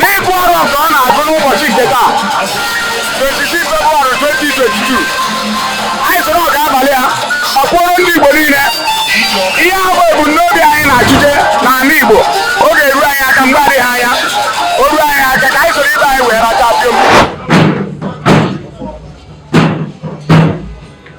n'ịgụ arọ nke a na-agụ n'ụbọchị nke taa 26 February 2022 anyị soro ọga abalị a ọkpụrụ ndị Igbo niile ihe ahụ bụ ebumnobi anyị na-achụje n'ala Igbo ọ ga-eru anyị aka mgbe adịghị anya o ruo anyị aka ka anyị soro ibe anyị wee racha pịom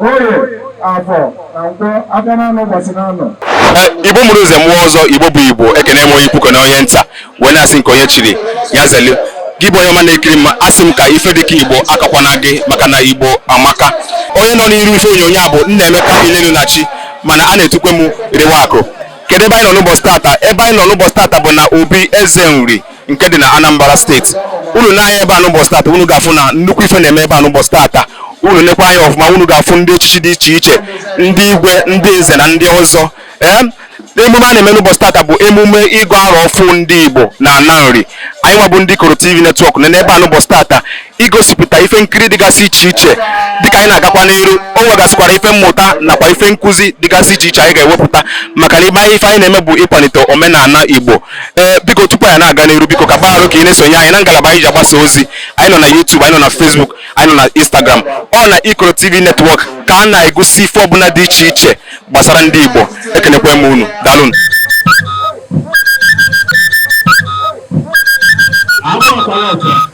Oye, Afọ na Nkwọ afịa n'anọ ụbọchị n'anọ. Eh, Igbo mụrụ nze mụọ ọzọ Igbo bụ Igbo ekene m onye ukwu kene onye nta wee na-asị nke onye chiri ya zeli gị bụ onye ọma na-ekiri m asị m ka ife dịka Igbo akọkwana gị maka na Igbo amaka onye nọ n'iru ife onyonyo a bụ Nnaemeka Ilenu na chi mana a na-etukwe m Riwa Akụ kedu ebe anyị nọ n'ụbọchị tata ebe anyị nọ n'ụbọchị tata bụ na Obi Eze Nri nke dị na Anambra steeti unu nee anya ebe a n'ụbọchị tata unu ga-afụ na nnukwu ife na-eme ebe a n'ụbọchị tata unu nekwa anya ọfụma unu ga-afụ ndị echichi dị iche iche ndị igwe ndị nze na ndị ọzọ ee emume a na-eme n'ụbọchị tata bụ emume ịgụ arọ ọfụụ ndị Igbo na ana Nri anyị nwa bụ ndị Ikoro TV netwọk nọ n'ebe a n'ụbọchị tata igosipụta ife nkiri dịgasị iche iche dịka anyị na-agakwa n'iru o nwegasịkwara ife mmụta nakwa ife nkụzi dịgasị iche iche anyị ga-ewepụta maka na ibe anyị ife anyị na-eme bụ ịkwalite omenala igbo ee biko tupu anyị na-aga n'iru biko ka gbaghara ka ị na-esonye anyị na ngalaba anyị ji agbasa ozi anyị nọ na YouTube anyị nọ na Facebook anyị nọ na Instagram ọ na Ikoro TV netwọk ka a na-egosi ife ọbụla dị iche iche gbasara ndị igbo ekenekwe m unu dalụnụ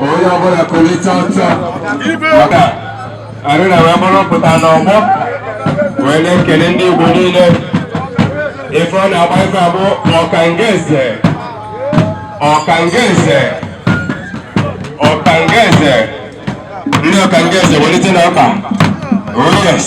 onye ọbụla kulite ọtọ maka arịna wee mụrụ pụta n'ọgbọ wee na-ekele ndị Igbo niile ife ọ na-agba ife a bụ ọkanga eze ọkanga eze ọkanga eze ndị ọkanga eze welite na ọka oh yes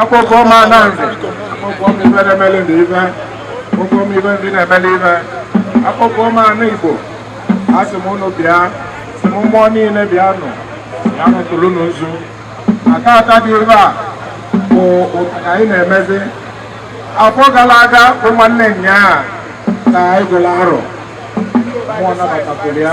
akpọkuo m ana nze akpọkuo m ife na-emeli ndị ife akpọkuo m ife ndị na-emeli ife akpọkuo m ana Igbo asị m unu bịa sị m mmụọ niile bịa nụ anyị tụrụ unu nzu tata dị ife a bụ ka anyị na-emezi afọ gara aga bụ nwanne nyaa ka anyị gụrụ arọ mmụọ nabatakwuru ya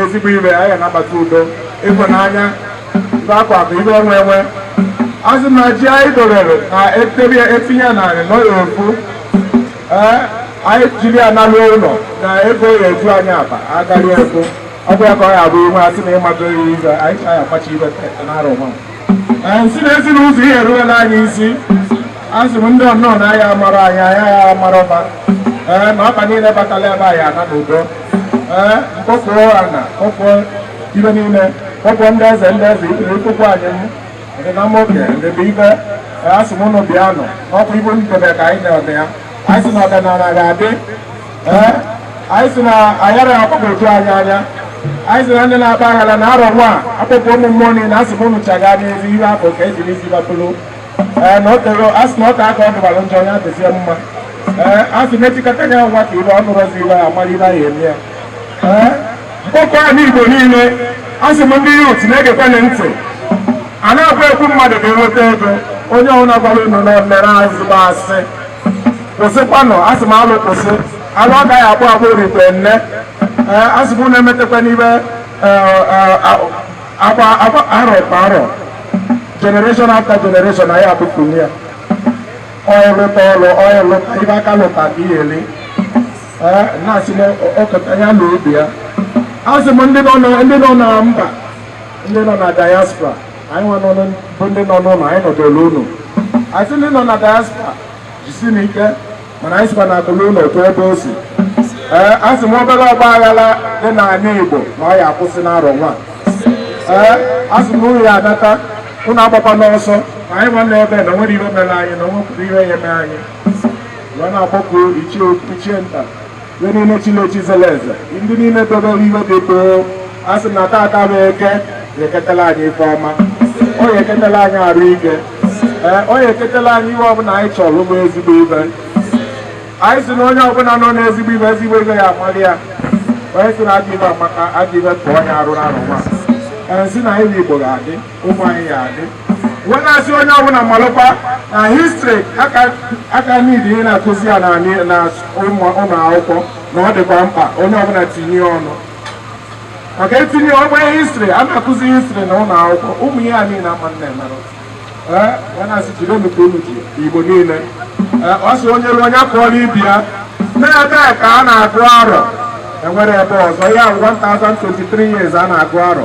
ezigbo ife anyị anabata udo ịhụnanya ife akụ akụ ife enwe enwe asị m na ji anyị dorere na etebi etinye narị n'ụlọ ofu ee anyị jiri ya nalụ ụlọ na ego ya eju anyị akpa agaghị ego ọ bụ ya ka ọ ya bụ inwe asị na ịmadụ ya ibe anyị chaya akpachi ibe n'arọ nwa ee nsị na ezi na ụzọ ihe eruwela anyị isi asị m ndị ọnọọ na ya amara anyị anya ya amara ọbịa ee na ọbịa niile batala ebe anyị ana n'udo ee m kpọkuo ana kpọkuo ife niile kpọkuo ndị eze ndị eze ikpere ikpokwu anyị m ndị na mmoke ndị bụ ibe ee, a sị m ụnụ bịa nọ ọkụ ibu ndobe ka anyị na-eme ya anyị si na ọdịnala ga-adị ee anyị si na ayara akpọpụ otu anyị anya anyị si na ndị na-akpa aghara na arọ nwa akpọkuo ụmụ mmụọ niile a sị m ụnụ chaga n'ezi ihe afọ ka ejiri isi bapụrụ ee na o tego a sị na ọka aka ọ dịbara njọ ya dịzie mma ee a sị na-echikọta ya nwa ka ibe ọnụ rọzi iwe ya mara ibe anyị eme ya ee m kpọkuo anị igbo niile a sị m ndị youth na-egekwenụ ntị a na-agwa ekwu mmadụ ka enweta ego onye ọhụrụ agwara unu na mere azụgbo asị kwụsịkwanụ a sị m alụ kwụsị alụ ọ gaghị akpụ akpụ rite nne ee a sị m na-emetakwa n'ibe ee, ee, a- agba agba arọ kwa arọ generation after generation anyị abụpụli ya ọya lụta ọlụ ọya lụta ibe aka lụta ka ihe ele Ee, na-asị na ọkọta ya na ubi ya asị m ndị nọ na- ndị nọ na mba ndị nọ na diaspora anyị nwa nọ n- bụ ndị nọ n'ụlọ anyị nọdụrụ unu asị ndị nọ na diaspora jisinụ ike mana anyị sikwa na akụ luo ụlọ o kwuo ebe o si ee a sị m obere ọgba aghara dị n'ala Igbo na ọ ya-akwụsị n'arọ nwa ee a sị m unu ya anata unu agbakwana ọsọ na anyị nwa nọ ebe na enwerọ ihe mere anyị na onwekwarọ ihe ya-eme anyị wee na-akpọku ichie nta ndị niile chili echi zere eze ndị niile dobere ihe dị too a sị na tata bụ eke ga-eketela anyị ife ọma ọ ga-eketela anyị arụ ike ee ọ ga-eketela anyị ihe ọbụla anyị chọrọ bụ ezigbo ife anyị si na onye ọbụla nọ n'ezigbo ife ezigbo ife ya amalị ya onye si na ajọ ife amaka ajọ ife pụọ onye arụ na arọ nwa ee si na anyị bụ igbo ga-adị ụmụ anyị ya-adị wee na-asị onye ọbụla malụkwa na history aka niile ihe na-akụzi ya na ụlọ akwụkwọ na ọ dịkwa mkpa onye ọbụla tinye ọnụ maka etinye ọgba history a na-akụzi history na ụlọ akwụkwọ ụmụ ihe a niile ama na-emerụ wee na-asị jide nnukwu unu ji igbo niile ọ sị onye ruo onye akụọla ibi ya na ebe ka a na-agụ arọ enwerọ ebe ọzọ ya 1023 years a na-agụ arọ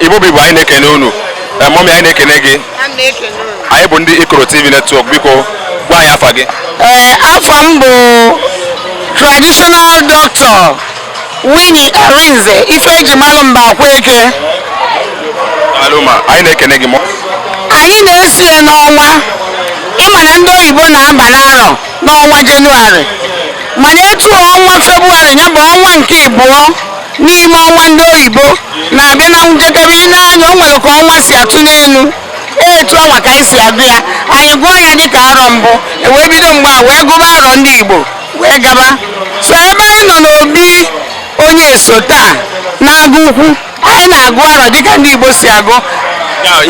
igbo bụ igbo anyị na-ekene unu mummy anyị na-ekene gị anyị bụ ndị ikoro tv network biko gwa anyị afa gị afa m bụ traditional doctor Winnie Arinze ife eji malụ mba akwa eke Alụma, anyị na-ekene gị mọ. anyị na-esi ya n'ọnwa ịma na ndị oyibo na-aba n'arọ n'ọnwa jenụwarị mana etu ọnwa febụwarị ya bụ ọnwa nke ịbụọ n'ime ọnwa ndị oyibo na-abịa na njedebe i nee anya o nwere ka ọnwa si atụ n'elu etu anwa ka anyị si agụ ya anyị gụọ ya dịka arọ mbụ e wee bido mgbe a wee gụba arọ ndị igbo wee gaba so ebe anyị nọ n'obi Onyeso taa n'Agụukwu anyị na-agụ arọ dịka ndị Igbo si agụ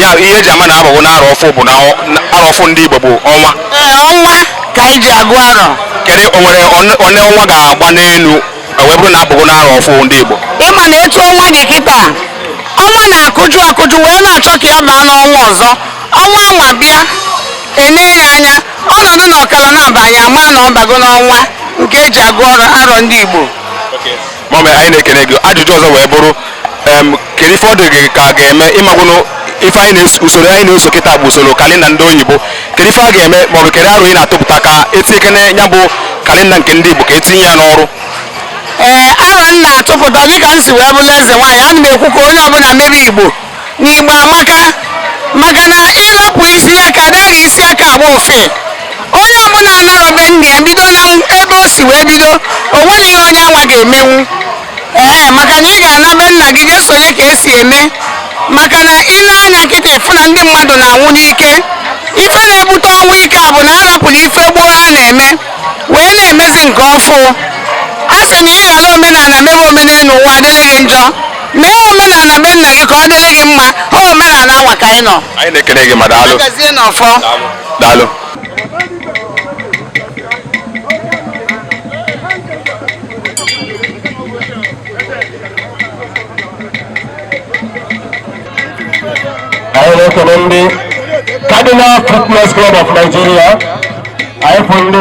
ya ihe eji ama na abago n'arọ ọfụ bụ na arọ ọfụ ndị Igbo bụ ọnwa ọnwa ka anyị ji agụ arọ kedu o nwere one ọnwa ga-agba n'elu e wee bụrụ na abago n'arọ ọfụ ndị Igbo ịma na etu ọnwa dị kịta ọnwa na-akụju akụju wee na-achọ ka ya baa n'ọnwa ọzọ ọnwa anwa bịa enee ya anya Ọ nọdụ n'ọkara na-aba anyị ama na ọ bago n'ọnwa nke eji agụ arọ ndị Igbo. Mọmị anyị na-ekene gị ajụjụ ọzọ wee bụrụ em, kedu ife ọ dị gị ka a ga-eme ị magonụ ife anyị na-eso usoro anyị na-eso kịta bụ usoro kalenda ndị oyibo kedu ife a ga-eme maọbụ kedu arọ ị na-atụpụta ka etinyekene ya bụ kalenda nke ndị Igbo ka etinye ya n'ọrụ Ee, arọ m na-atụpụta dịka m si wee bụrụ eze nwaanyị ana m ekwu ka onye ọbụla mebe Igbo na Igbo amaka maka na ịrapụ isi aka anaghị isi aka agba ofe onye ọbụla anarọ be nna ya bido na ebe o si wee bido o nwerọ ihe onye anwa ga-emenwu ee maka na ị ga-ana be nna gị jee sonye ka esi eme maka na i nee anya kịta ị fụ na ndị mmadụ na-anwụ n'ike ife na-ebute ọnwụ ike a bụ na a rapụrụ ife gboo a na-eme wee na-emezi nke ọfụ a sị na ị ghara omenala mebe omenelu ụwa adịrị gị njọ mee omenala be nna gị ka ọ dịrị gị mma ọ omenala anwa ka anyị nọ anyị na-ekene gị ma daalụ gazie n'ọfọ daalụ anyị na-ekele ndị Cardinal Fitness Club of Nigeria anyị kwụ ndị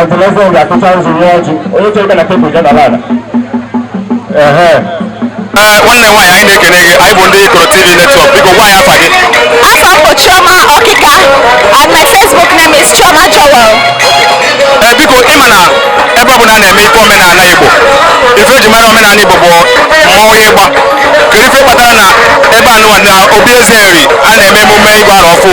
ọdịneze oge akụcha nzu nye ọjị onye chere ka na tebụl je nọrọ ala ehe Ee, nwanne nwaanyị anyị na-ekele gị anyị bụ ndị Ikoro TV Network biko gwa anyị afa gị Afa m bụ Chioma Ọkịka and my Facebook name is Chioma Joel. Ee, biko ịma na ebe ọ bụla a na-eme ife omenala Igbo ife eji mara omenala Igbo bụ mmọnwụ ịgba kedu ife kpatara na ebe anụwa na obi Eze Nri a na-eme emume ịgụ arọ ọfụ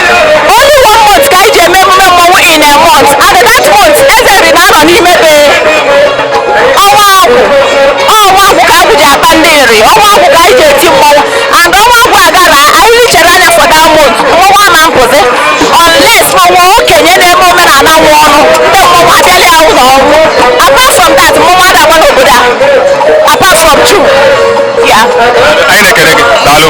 Only one month ka anyị ji eme emume mmọnwụ in a month and that month Eze Nri na-anọ n'ime be ọnwa agwụ ọnwa agwụ ka agwụ ji akpa ndị Nri ọnwa agwụ ka anyị ji eti mmọnwụ and ọnwa agwụ aga na anyị richara anya for that month mmọnwụ a na-apụzi unless ma ọ wụ okenye na-eme omenala nwụọ nụ ndị mmọnwụ abịala ya ụlọ ọnwụ apart from that mmọnwụ ada agba n'obodo a apart from Chukwu ya Anyị na-ekene gị. Daalụ.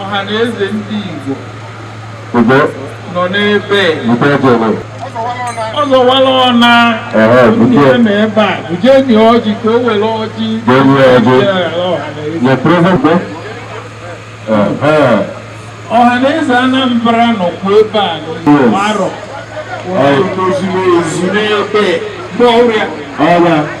Ọhanaeze ndị Igbo nọ n'ebe ọzọwala ọna ihe ma ebe a bujeni ọjị ka o were ọjị Ọhanaeze Anambra nọkwa ebe a n'arọ zuru ezu n'ebe Nri a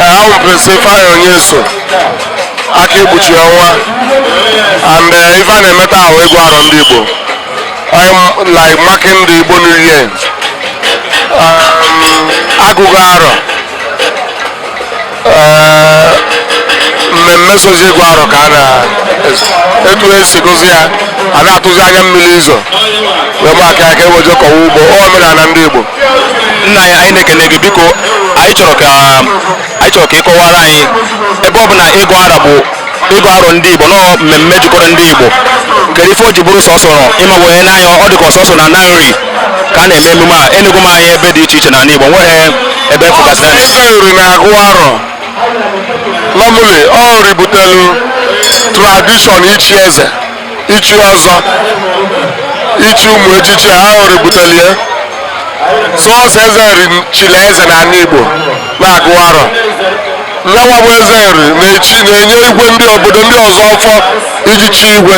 a wụ Prince Ifeanyi Onyeso aka ekpuchi ọnwa and eh, ife a na-eme taa wụ ịgụ arọ ndị Igbo eh like marking the Igbo New Year um, a gụgo arọ eh, mmemme sozi ịgụ arọ ka a na etu esi gozi ya a na-atụzi anya mmiri izo wee maka ya ka e wee je kọwa ugbo omenala ndị Igbo nna anyị anyị na-ekene gị biko anyị chọrọ ka ị kọwara anyị ebe ọ bụ na ịgụ arọ a bụ ịgụ arọ ndị igbo na ọ mmemme jikọrọ ndị igbo kedu ife o ji bụrụ sọsọ nọ ị ma onye nee anya ọ dị ka ọ sọsọ na na Nri ka a na-eme emume a enego m anya ebe dị iche iche n'ala igbo nwerọ ebe m fụgasịrị ya Ndị Nri na-agụ arọ normally ọ Nri butelu tradition ichi eze ichi ọzọ ichi ụmụ echichi ahụ Nri butelie sọsọ eze Nri chili eze na ala igbo na-agụ arọ nyanwa bụ eze Nri na-enye igwe ndị obodo ndị ọzọ ọfọ iji chi igwe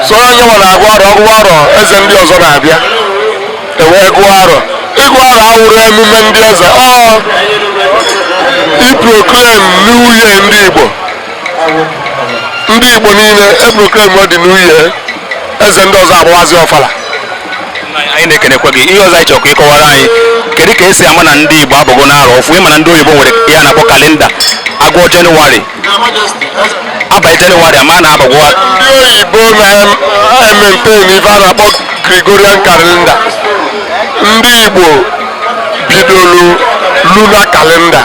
sọ nyanwa na-agụ arọ ọ gụọ arọ eze ndị ọzọ na-abịa e wee gụọ arọ ịgụ arọ awụrọ emume ndị eze ọ iproclaim new year ndị igbo ndị igbo niile e proclaim the new year eze ndị ọzọ agbawazi ọfala anyị na-ekenekwa gị ihe ọzọ anyị chọrọ ka ị kọwara anyị kedu ka e si ama na ndị igbo abago n'arọ ọfụụ ị ma na ndị oyibo nwere ihe a na-akpọ kalenda a gụọ jenụwarị abalị jenụwarị a ma na abago ndị oyibo na-emaintain ife a na-akpọ Gregorian calendar ndị igbo bidoro lunar calendar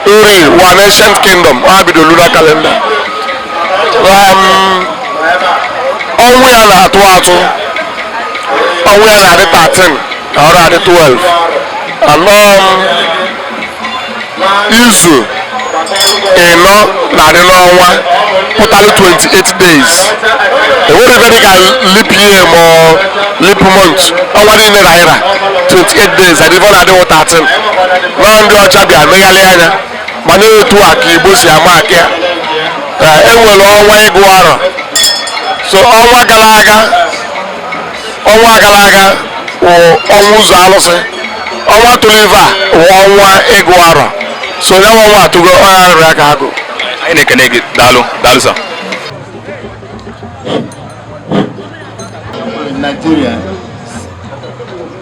Nri wụ an ancient kingdom ha bido lunar calendar um, ọnwa ya na-atụ atụ ọnwa ya na-adị 13 na ọrụ adị 12 anọ um, izu ịnọ na-adị n'ọnwa pụtara 28 days enwerọ ive dịka leap year ma ọ leap month ọnwa niile na-ara 28 days adịbọ na-adịwụ 13 na ndị ọcha bịa megharị anya mana etu a ka Igbo si ama aka ya Ee, e nwere ọnwa ịgụ arọ so ọnwa gara aga ọnwa gara aga wụ ọnwa ụzọ alụsị ọnwa tụrụ ive a wụ ọnwa ịgụ arọ so ya nwa ọnwa atụgo onye arịrị aka agụ anyị na-ekene gị daalụ daalụ sir Nigeria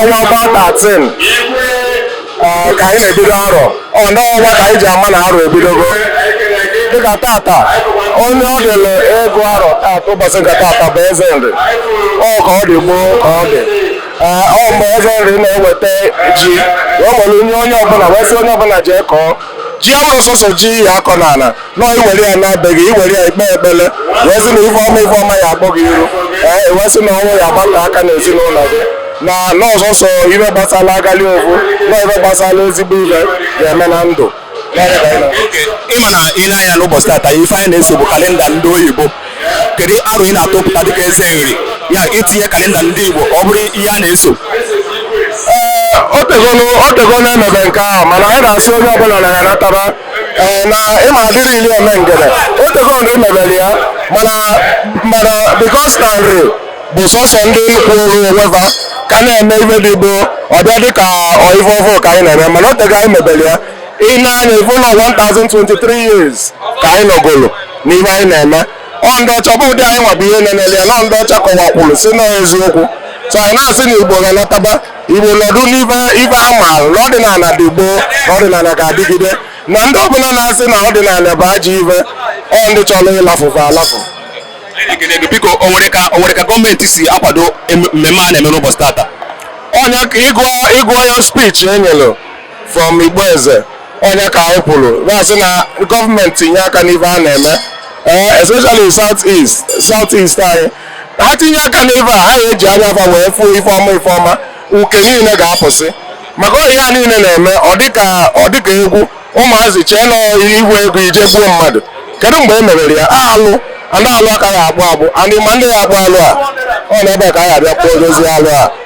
ọnwa ọnwa 13 ka anyị na-ebido arọ ọ n'ọnwa ka anyị ji ama na arọ ebidogo dịka tata onye ọ dịrị ịgụ arọ tata ụbọsị nke tata bụ Eze Nri ọ ka ọ dị gboo ka ọ dị ee ọ mgbe Eze Nri na-eweta ji wee nye onye ọbụna wee sị onye ọbụna jee kọọ ji abụrọ sọsọ ji ị ya-akọ n'ana na ị were ya na be gị ị were ya ị kpee ekpere wee sị na ife ọma ife ọma ya-akpọ gị iru ee e wee sị na ọnwụ ya agbata aka n'ezinụlọ gị na ọ sọsọ ive gbasara ọganiru na ive gbasara ezigbo ive ga-eme na ndụ ị ma na ị nee anya n'ụbọchị tata ife anyị na-eso bụ kalenda ndị oyibo kedu aro ị na-atụpụta dịka Eze Nri ya-etinye kalenda ndị Igbo ka ọ bụrụ ihe a na-eso ee o tegolo e mebe nke ahụ mana anyị na-asị onye ọbụla na ya natara ee na ịma adịrị ili eme ngede o tego Nri mebere ya mana mana because na Nri bụ sọsọ ndị kwụrụ onwe va ka na-eme ive dị gboo ọ bịa dị ka ọ ive ọvụụ ka anyị na-eme mana o tego anyị mebere ya ị nee anya ị vụ na ọ 1023 years ka anyị nọgolo n'ihe anyị na-eme ọ ndị ọcha bụ ụdị anyị nwa bụ ihe nenele ya na ndị ọcha kọwakwuru si na eziokwu so anyị na-asị na Igbo ha nataba Igbo nọdụ n'ife ife a maara na ọdịnana dị gboo na ọdịnana ga-adịgide na ndị ọbụla na-asị na ọdịnana bụ ajọ ife ọ ndị chọrọ ịlafụ fa alafụ biko o nwere ka o nwere ka gọọmenti si akwado em- mmemme a na-eme n'ụbọchị tata ọ ya ka ị gụọ ị gụọ ya speech e nyere from Igbo Eze ọ ya ka anyị kwuru na-asị na gọọmenti tinye aka n'ife a na-eme eh, especially south east south east anyị ha tinye aka n'ife a ha eji anya fa wee fụ ife ọma ife ọma uke niile ga-apụsị maka ọ ihe a niile na-eme ọ dịka ọ dịka egwu ụmụazị chee na ị hụ ego ị jee gbuo mmadụ kedu mgbe e mebere ya alụ ndị alụ aka ya-akpụ akpụ and ị ma ndị ya-akpụ alụ a ọ n'ebe a ka a ya-abịa kpụọzi alụ a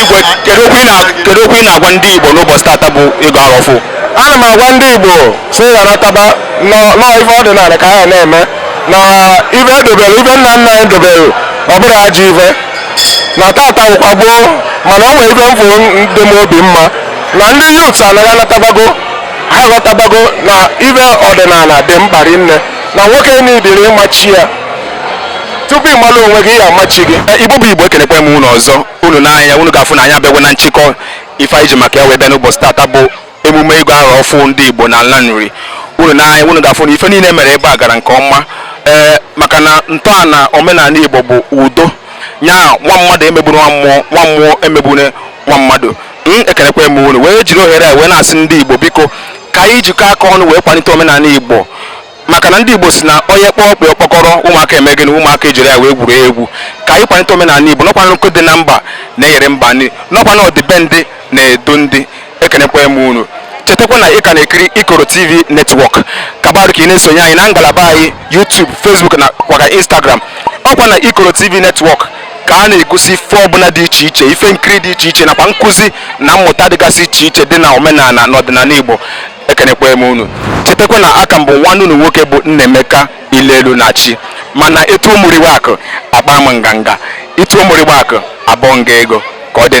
Igwe, kedu okwu ị na- kedu okwu ị na-agwa ndị Igbo n'ụbọchị tata bụ ịgụ arọ ọfụ? ana m agwa ndị igbo sị ha nataba ụnọ na ife ọdịnala ka anyị na-eme na ife edobere ife nna nna anyị dobere ọ bụrọ ajọ ife na tata bụkwa gboo mana o nwere ife m fụ dị m obi mma na ndị youths anyị anatabago ha aghọtabago na ife ọdịnala dị mkpa rinne na nwoke niile ịma chi ya tupu ị mara onwe gị ị ya-ama chi gị eh, igbo bụ igbo ekenekwa m unu ọzọ unu nee anya unu ga-afụ na anyị abịago na nchịkọ ife anyị ji maka ya wee bịa n'ụbọchị tata bụ emume ịgụ arọ ọfụ ndị igbo na ala Nri unu nee anya unu ga-afụ na ife niile mere ebe a gara nke ọma ee eh, maka na ntọala omenala igbo bụ udo nya nwa mmadụ emegbune nwa mmụọ nwa mmụọ emegbune nwa mmadụ m hmm, ekenekwa m unu wee jiri ohere a wee na-asị ndị igbo biko ka anyị jikọ aka ọnụ wee kwalite omenala igbo maka na ndị Igbo si na onye kpọọ ọkpụ ọkpọkọrọ ụmụaka eme gịnị ụmụaka ejiri ya wee gwuru egwu ka anyị kwalite omenala Igbo na ọkwa nkụ dị na mba na-eghere mba nri na ọkwa na ọdịbendị na-edu ndị ekenekwa m unu chetakwa na ị ka na-ekiri Ikoro TV Network ka ọ bụrụ ka ị na-esonye anyị na ngalaba anyị YouTube Facebook nakwa Instagram ọkwa na Ikoro TV Network ka a na-egosi ife ọbụla dị iche iche ife nkiri dị iche iche nakwa nkụzi na mmụta dịgasị iche iche dị na omenala na ọdịnala Igbo ekenekwa m unu chetakwa na aka m bụ nwanne unu nwoke bụ Nnaemeka Ilelu na chi m a na-etu ụmụriwe akụ akpa m nganga etu ụmụriwe akụ abụọ nga ego ka ọ dị